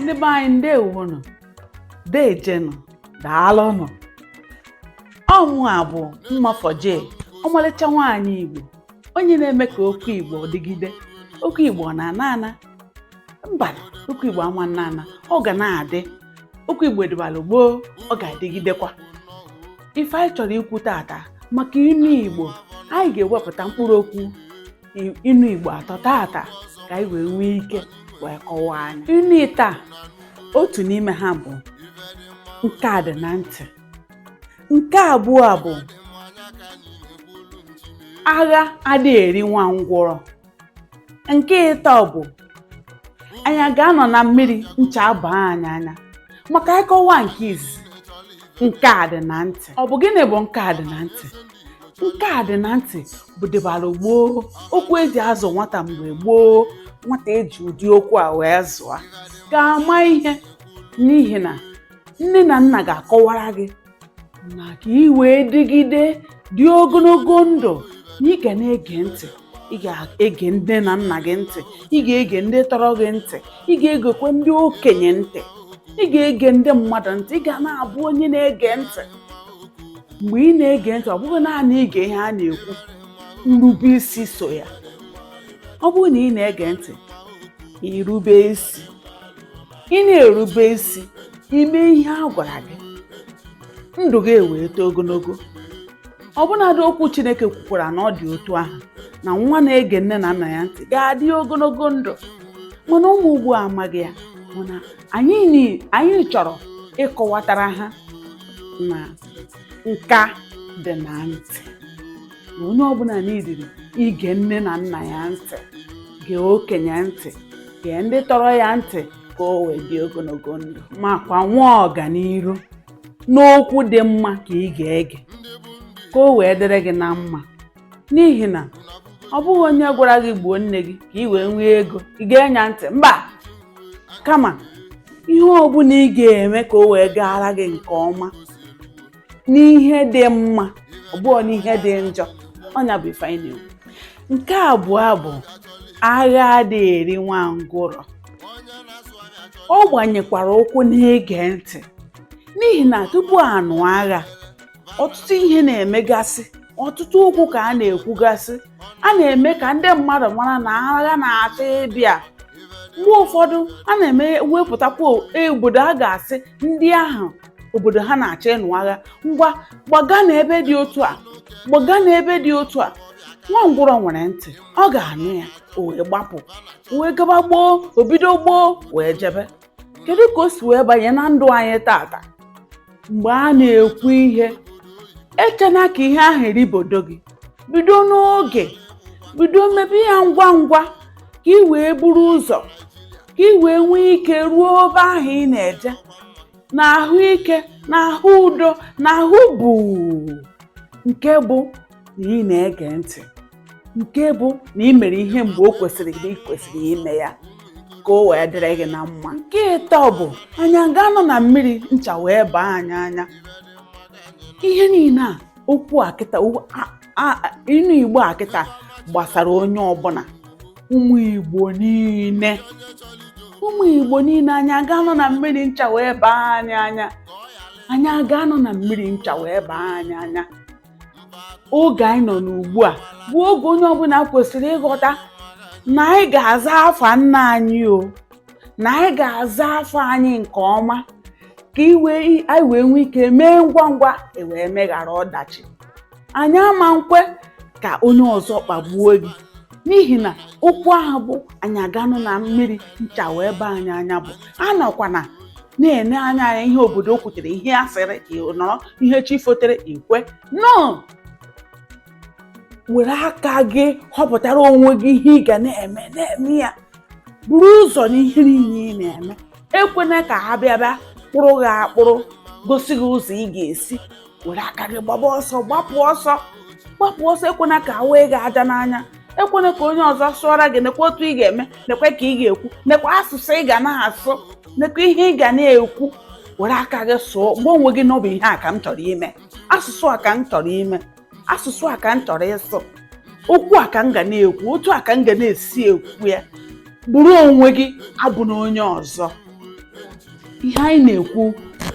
ndị be anyị ndewonụ dejenụ daalụnụ ọ mụwa bụ mmafoje ọmalịcha nwaanyị igbo onye na-eme ka okwu igbo dịgide okwu igbo ọ na-ana ana mba okwu igbo ama na-ana ọ ga na-adị okwu igbo dịbara gboo ọ ga-adịgidekwa ife anyị chọrọ ikwu tata maka inu igbo anyị ga-ewepụta mkpụrụ okwu inu igbo atọ tata ka anyị wee nwee ike wee kọwaa nya inu ịtọ otu n'ime ha bụ nka dị na ntị nke abụọ bụ agha adịghị eri nwa ngwụrọ nke ịtọ bụ anyị ga-anọ na mmiri ncha abaa anyị anya ma ka anyị kọwaa nke izizi nka dị na ntị ọ bụ gịnị bụ nka dị na ntị nka dị na ntị bụ dịbara gboo okwu e ji azụ nwata mgbe gboo nwata e ji ụdị okwu a wee zụọ ga-ama ihe n'ihi na nne na nna ga-akọwara gị na ka ị wee dịgide dị ogologo ndụ na ị ga na-ege ntị ị ga-ege nne na nna gị ntị ị ga-ege ndị tọrọ gị ntị ị ga-egekwe ndị okenye ntị ị ga-ege ndị mmadụ ntị ị ga na-abụ onye na-ege ntị mgbe ị na-ege ntị ọ bụghị naanị ige ihe a na-ekwu nrube isi so ya ọ bụrụ na ị na-ege ntị i rube isi ị na-erube isi i mee ihe a gwara gị ndụ gị ewee too ogologo ọbụnadị okwu Chineke kwukwara na ọ dị otu ahụ na nwa na-ege nne na nna ya ntị ga-adị ogologo ndụ mana ụwa ugbu a amaghị ya mana anyị chọrọ ịkọwatara ha na nka dị na ntị na onye ọbụla n'idiri ige nne na nna ya ntị gee okenye ntị gee ndị tọrọ ya ntị ka o wee dị ogologo ndụ makwa nwee ọganiru n'okwu dị mma ka ị ga-ege ka o wee dịrị gị na mma n'ihi na ọ bụghị onye gwara gị gbuo nne gị ka ị wee nwee ego i gee nya ntị mba kama ihe ọ bụla ị ga-eme ka o wee gaara gị nke ọma n'ihe dị mma ọ bụghọ n'ihe dị njọ ọ nya bụ ife anyị na-ekwu nke abụọ bụ agha adịghị eri nwa ngwụrọ ọ gbanyekwara ụkwụ n'ige ntị n'ihi na tupu a nụọ agha ọtụtụ ihe na-emegasị ọtụtụ okwu ka a na-ekwugasị a na-eme ka ndị mmadụ mara na agha na-achọ ịbịa mgbe ụfọdụ a na-eme wepụtakwa e, obodo a ga-asị ndị ahụ obodo ha na-achọ ịnụ agha ngwa gbaga na ebe dị otu a gbaga na ebe dị otu a nwa ngwụrọ nwere ntị ọ ga-anụ ya o wee gbapụ wee gaba gboo o bido gboo wee jebe kedu ka o si wee banye na ndụ anyị tata mgbe a na-ekwu ihe echena ka ihe ahụ eribodo gị bido n'oge bido mebe ya ngwa ngwa ka i wee buru ụzọ ka i wee nwee ike ruo ebe ahụ ị na-eje na ahụike na ahụ udo na ahụ buu nke bụ na ị na-ege ntị nke bụ na ị mere ihe mgbe o kwesịrị na ị kwesịrị ime ya ka o wee dịrị gị na mma nke ịtọ bụ anyị aga-anọ na mmiri ncha wee baa anyị anya ihe niile a okwu a kịta ịnụ igbo a kịta gbasara onye ọbụla ụmụ igbo niile ụmụ igbo niile anyị aga-anọ na mmiri ncha wee baa anyị anya anyị aga-anọ na mmiri ncha wee baa anyị anya oge anyị nọ n'ugbu a bụ oge onye ọbụla kwesịrị ịghọta na anyị ga-aza afa nna anyị o na anyị ga-aza afa anyị nke ọma ka i wee anyị wee nwee ike mee ngwa ngwa wee meghara ọdachi anyị ama nkwe ka onye ọzọ kpagbuo gị n'ihi na okwu ahụ bụ anyị aga-anọ na mmiri ncha wee baa anyị anya bụ anọkwana na-ene anya anya ihe obodo kwutere ihe a sịrị nọrọ ihe chi fotere ikwe nọ were aka gị họpụtara onwe gị ihe ị ga na-eme na-eme ya buru ụzọ n'ihe niile ị na-eme ekwena ka ha bịa bịa kpụrụ gị akpụrụ gosi gị ụzọ ị ga-esi were aka gị gbaba ọsọ gbapụ ọsọ gbapụ ọsọ ekwena ka a waa gị aja n'anya ekwena ka onye ọzọ sụọra gị nekwa otu ị ga-eme nekwa ka ị ga-ekwu nekwa asụsụ ị ga na-asụ nekwa ihe ị ga na-ekwu were aka gị sụọ gwa onwe gị na ọ bụ ihe a ka m chọrọ ime asụsụ a ka m chọrọ ime asụsụ a ka m chọrọ ịsụ okwu a ka m ga na-ekwu otu a ka m ga na-esi ekwu ya bụrụ onwe gị abụna onye ọzọ ihe anyị na-ekwu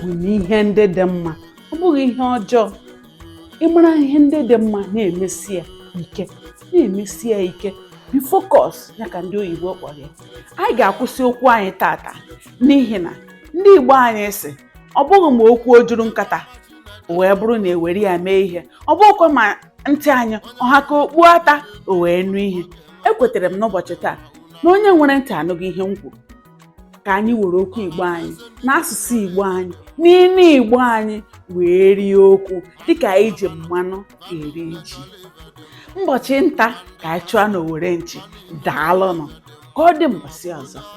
bụ na ihe ndị dị mma ọ bụghị ihe ọjọọ ị mara ihe ndị dị mma na-emesi ya ike na-emesi ya ike be focus ya ka ndị oyibo kpọrọ ya anyị ga-akwụsị okwu anyị tata n'ihi na ndị igbo anyị sị ọ bụghị ma okwu o juru nkata wee bụrụ na e were ya mee ihe ọ bụghịkwa ma ntị anyị ọ ha ka okpu ata o wee nụ ihe ekwetara m n'ụbọchị taa na onye nwere ntị anụgo ihe m kwuru ka anyị were okwu igbo anyị n'asụsụ igbo anyị n'inu igbo anyị wee rie okwu dịka anyị ji mmanụ eri ji ụbọchị nta ka anyị chụọ n'owere nchi daalụnụ ka ọ dị mbọsị ọzọ